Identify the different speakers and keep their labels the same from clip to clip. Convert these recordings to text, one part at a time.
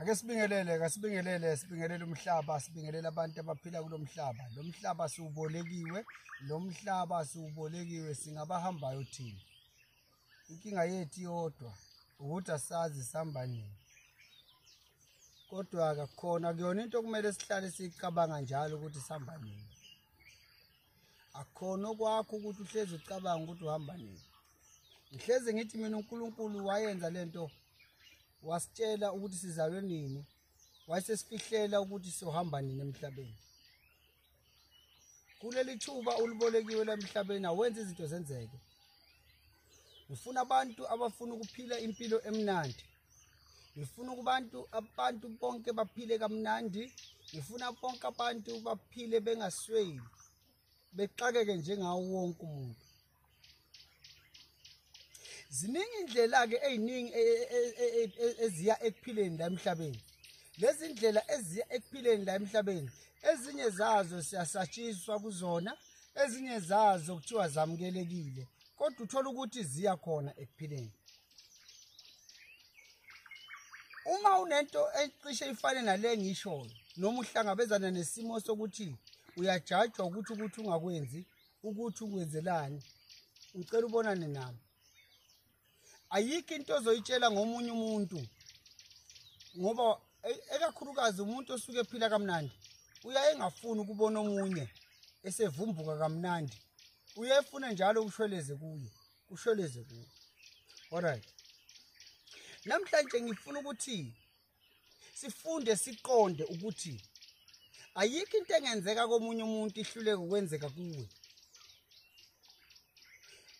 Speaker 1: ake sibingelele kasibingelele sibingelele umhlaba sibingelele abantu abaphila kulo mhlaba lo mhlaba siwubolekiwe lo mhlaba siwubolekiwe singabahambayo thina inkinga yethu yodwa ukuthi asazi sihamba nini kodwa-ke khona kuyona into okumele sihlale siyicabanga njalo ukuthi sihamba nini akukhona okwakho ukuthi uhlezi ucabanga ukuthi uhamba nini ngihlezi ngithi mina uNkulunkulu wayenza lento wasitshela ukuthi sizalwe nini wayesesifihlela ukuthi sohamba nini emhlabeni kuleli thuba ulibolekiwe lemhlabeni awenza izinto zenzeke ngifuna abantu abafuna ukuphila impilo emnandi ngifuna kubantu abantu bonke baphile kamnandi ngifuna bonke abantu baphile bengasweli bexakeke njengawo wonke umuntu ziningi indlela-ke ey'ningi e, e, e, eziya ekuphileni la emhlabeni lezi ndlela eziya ekuphileni la emhlabeni ezinye zazo siyasatshiswa kuzona ezinye zazo kuthiwa zamukelekile kodwa uthola ukuthi ziya khona ekuphileni uma unento ecishe ifane nale ngishoyo noma uhlangabezana nesimo sokuthi uyajajwa ukuthi ukuthi ungakwenzi ukuthi ukwenzelani ngicela ubonane nami ayikho into ozoyitshela ngomunye umuntu ngoba e-, ekakhulukazi umuntu osuke ephila kamnandi uyaye engafuni ukubona omunye esevumbuka kamnandi uyefuna njalo ukushweleze kuye usholeze kuwe alright namhlanje ngifuna ukuthi sifunde siqonde ukuthi ayikho into engenzeka komunye umuntu ihluleke ukwenzeka kuwe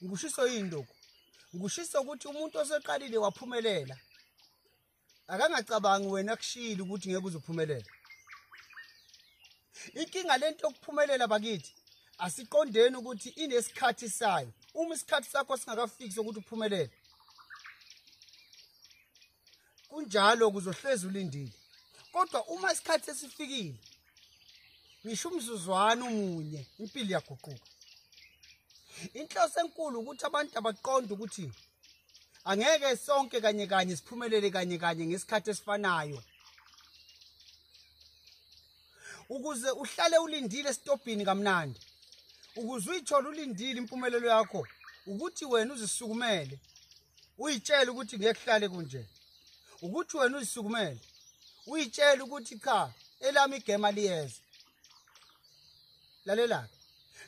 Speaker 1: ngikushiso yini lokhu ngikushiso ukuthi umuntu oseqalile waphumelela akangacabangi wena kushilo ukuthi ngeke uzophumelela inkinga lento yokuphumelela bakithi asiqondeni ukuthi inesikhathi sayo uma isikhathi sakho singakafiki sokuthi uphumelele kunjalo kuzohlezi ulindile kodwa uma isikhathi sesifikile ngisho umzuzwana umunye impilo iyaguquka inhloso enkulu ukuthi abantu abaqonde ukuthi angeke sonke kanye kanye siphumelele kanye kanye ngesikhathi esifanayo ukuze uhlale ulindile esitobhini kamnandi ukuze uyithole ulindile impumelelo yakho ukuthi wena uzisukumele uyitshele ukuthi ngeke kuhlale kunje ukuthi wena uzisukumele uyitshele ukuthi cha elami igema liyeza lalela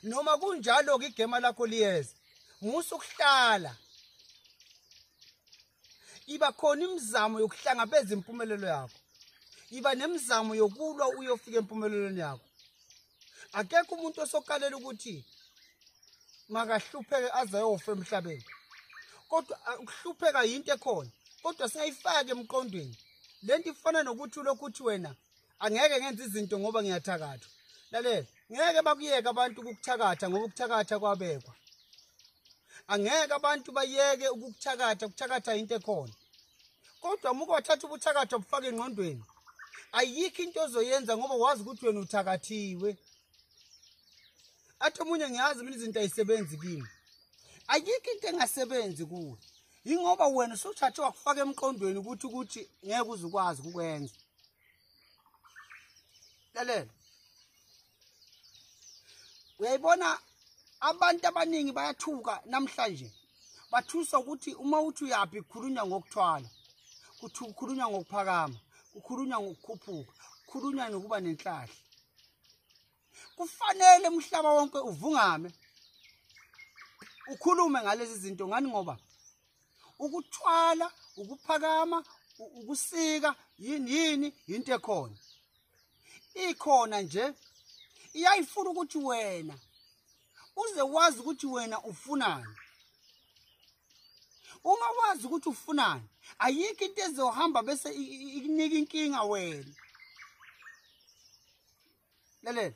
Speaker 1: noma kunjalo ke igema lakho liyeza musa ukuhlala iba khona imizamo yokuhlangabeza impumelelo yakho iba nemizamo yokulwa uyofika empumelelweni yakho akekho umuntu osokalela ukuthi makahlupheke aze ayofa emhlabeni kodwa ukuhlupheka yinto ekhona kodwa singayifaki emqondweni lento ifana nokuthi lokhu uthi wena angeke ngenze izinto ngoba ngiyathakathwa lalela ngeke bakuyeke abantu ukukuthakatha ngoba ukuthakatha kwabekwa angeke abantu bayeke ukukuthakatha ukuthakatha into ekhona kodwa muke wathatha ubuthakatha bufake engqondweni ayikho into ozoyenza ngoba wazi ukuthi wena uthakathiwe athi omunye ngiyazi mina izinto ayisebenzi kimi ayikho into engasebenzi kuwe yingoba wena usuthathe wakufaka emqondweni ukuthi ukuthi ngeke uzukwazi ukukwenza lalela uyayibona abantu abaningi bayathuka namhlanje bathusa ukuthi uma uthi uyaphi kukhulunywa ngokuthwala kukhulunywa ngokuphakama kukhulunywa ngokukhuphuka kukhulunywa nokuba nenhlahla kufanele umhlaba wonke uvungame ukhulume ngalezi zinto ngani ngoba ukuthwala ukuphakama ukusika yini yini into ekhona ikhona nje iyayifuna ukuthi wena uze wazi ukuthi wena ufunani uma wazi ukuthi ufunani ayikho into ezohamba bese ikunika inkinga wena lalela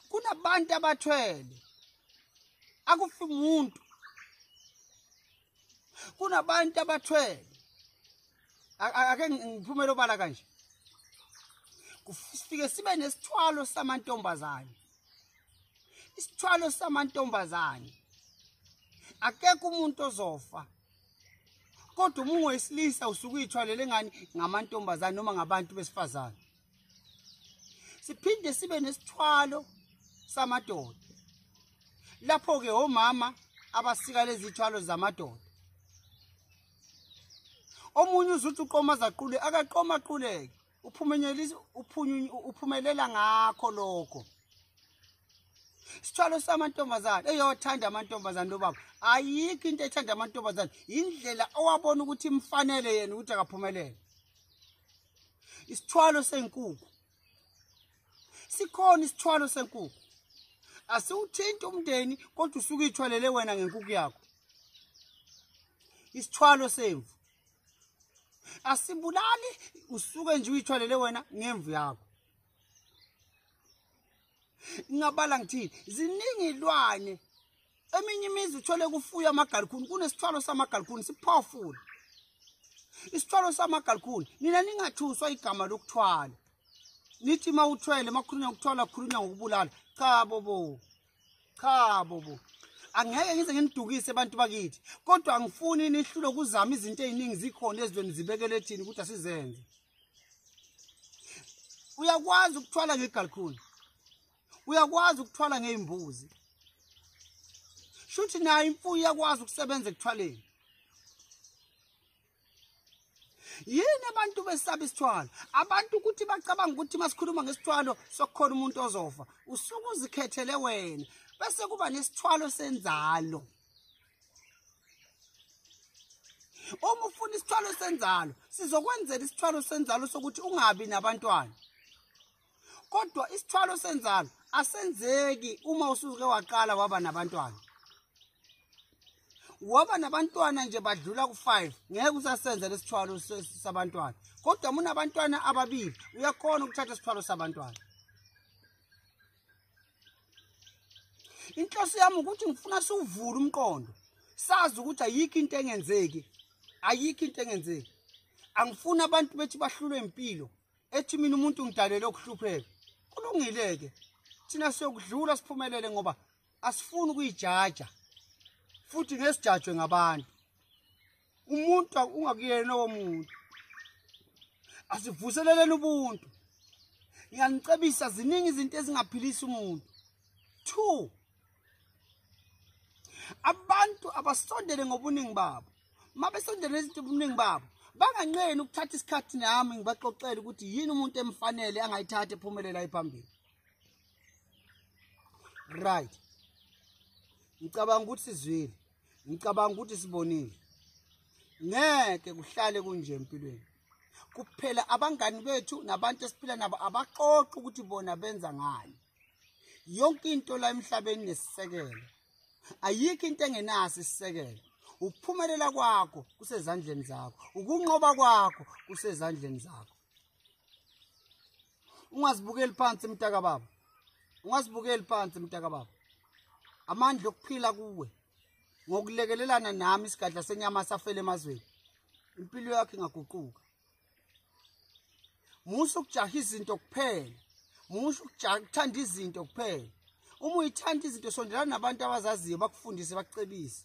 Speaker 1: kunabantu abathwele akufi umuntu kunabantu abathwele ake ngiphumele obala kanje kufike sibe nesithwalo samantombazane isithwalo samantombazane akekho umuntu ozofa kodwa uma ungoyisilisa usuke uyithwalele ngani ngamantombazane noma ngabantu besifazane siphinde sibe nesithwalo samadoda lapho-ke omama abasika lezi thwalo zamadoda omunye uzuthi uqoma zaqule akaqoma aquleke uphumelela ngakho lokho sithwalo samantombazane eyothanda amantombazane lobaba ayikho into ethanda amantombazane yindlela owabona ukuthi imfanele yena ukuthi akaphumelele isithwalo senkukhu sikhona isithwalo senkukhu asiwuthinti umndeni kodwa usuke ithwalele wena ngenkukhu yakho isithwalo semvu asibulali usuke nje uyithwalele wena ngemvu yakho ngingabala ngithini ziningi ilwane eminye imizi uthole kufuya amagalukhuni kunesithwalo samagalukhuni siphofula isithwalo samagalukhuni nina ningathuswa igama lokuthwala nithi uma uthwele makhulunywa ngokuthwala khulunywa ngokubulala cha bobo cha bobo angeke ngize nginidukise abantu bakithi kodwa angifuni nihlule ukuzama izinto eziningi zikhona ezweni zibekele thini ukuthi asizenze uyakwazi ukuthwala ngegalkhuni uyakwazi ukuthwala ngey'mbuzi shuthi nayo imfuyo iyakwazi ukusebenza ekuthwaleni yini abantu besaba isithwalo abantu ukuthi bacabanga ukuthi uma sikhuluma ngesithwalo sokukhona umuntu ozofa usuke uzikhethele wena bese kuba nesithwalo senzalo uma ufuna isithwalo senzalo sizokwenzela isithwalo senzalo sokuthi ungabi nabantwana kodwa isithwalo senzalo asenzeki uma usuke waqala waba nabantwana waba nabantwana nje badlula ku-five ngeke usasenza lesithwalo sabantwana kodwa munabantwana ababili uyakhona ukuthatha isithwalo sabantwana inhloso yami ukuthi ngifuna siwuvule umqondo sazi ukuthi ayikho into engenzeki ayikho into engenzeki angifuni abantu bethi bahlulwe impilo ethi mina umuntu ngidalele ukuhlupheka kulungile-ke thina siyokudlula siphumelele ngoba asifuni ukuyijaja futhi ngesijajwe ngabantu umuntu ungakuyena lowo muntu asivuseleleni ubuntu ngiyanicebisa ziningi izinto ezingaphilisa umuntu two abantu abasondele ngobuningi babo mabesondele izinto obuningi babo banganqeni ukuthatha isikhathi nami ngibaxoxele ukuthi yini umuntu emfanele angayithatha ephumelela ephambili right ngicabanga ukuthi sizwile ngicabanga ukuthi sibonile ngeke kuhlale kunje empilweni kuphela abangani bethu nabantu esiphila nabo abaxoxa ukuthi bona benza ngani yonke into la emhlabeni nesisekelo ayikho into engenaso isisekelo ukuphumelela kwakho kusezandleni zakho ukunqoba kwakho kusezandleni zakho ungazibukeli phansi mtaka baba ungazibukeli phansi mtaka baba amandla okuphila kuwe ngokulekelelana nami isigadla senyama safele emazweni impilo yakho ingaguquka musa ukujaha izinto kuphela musa ukuthanda izinto kuphela uma uyithanda izinto sondelana nabantu abazaziyo bakufundise bakucebise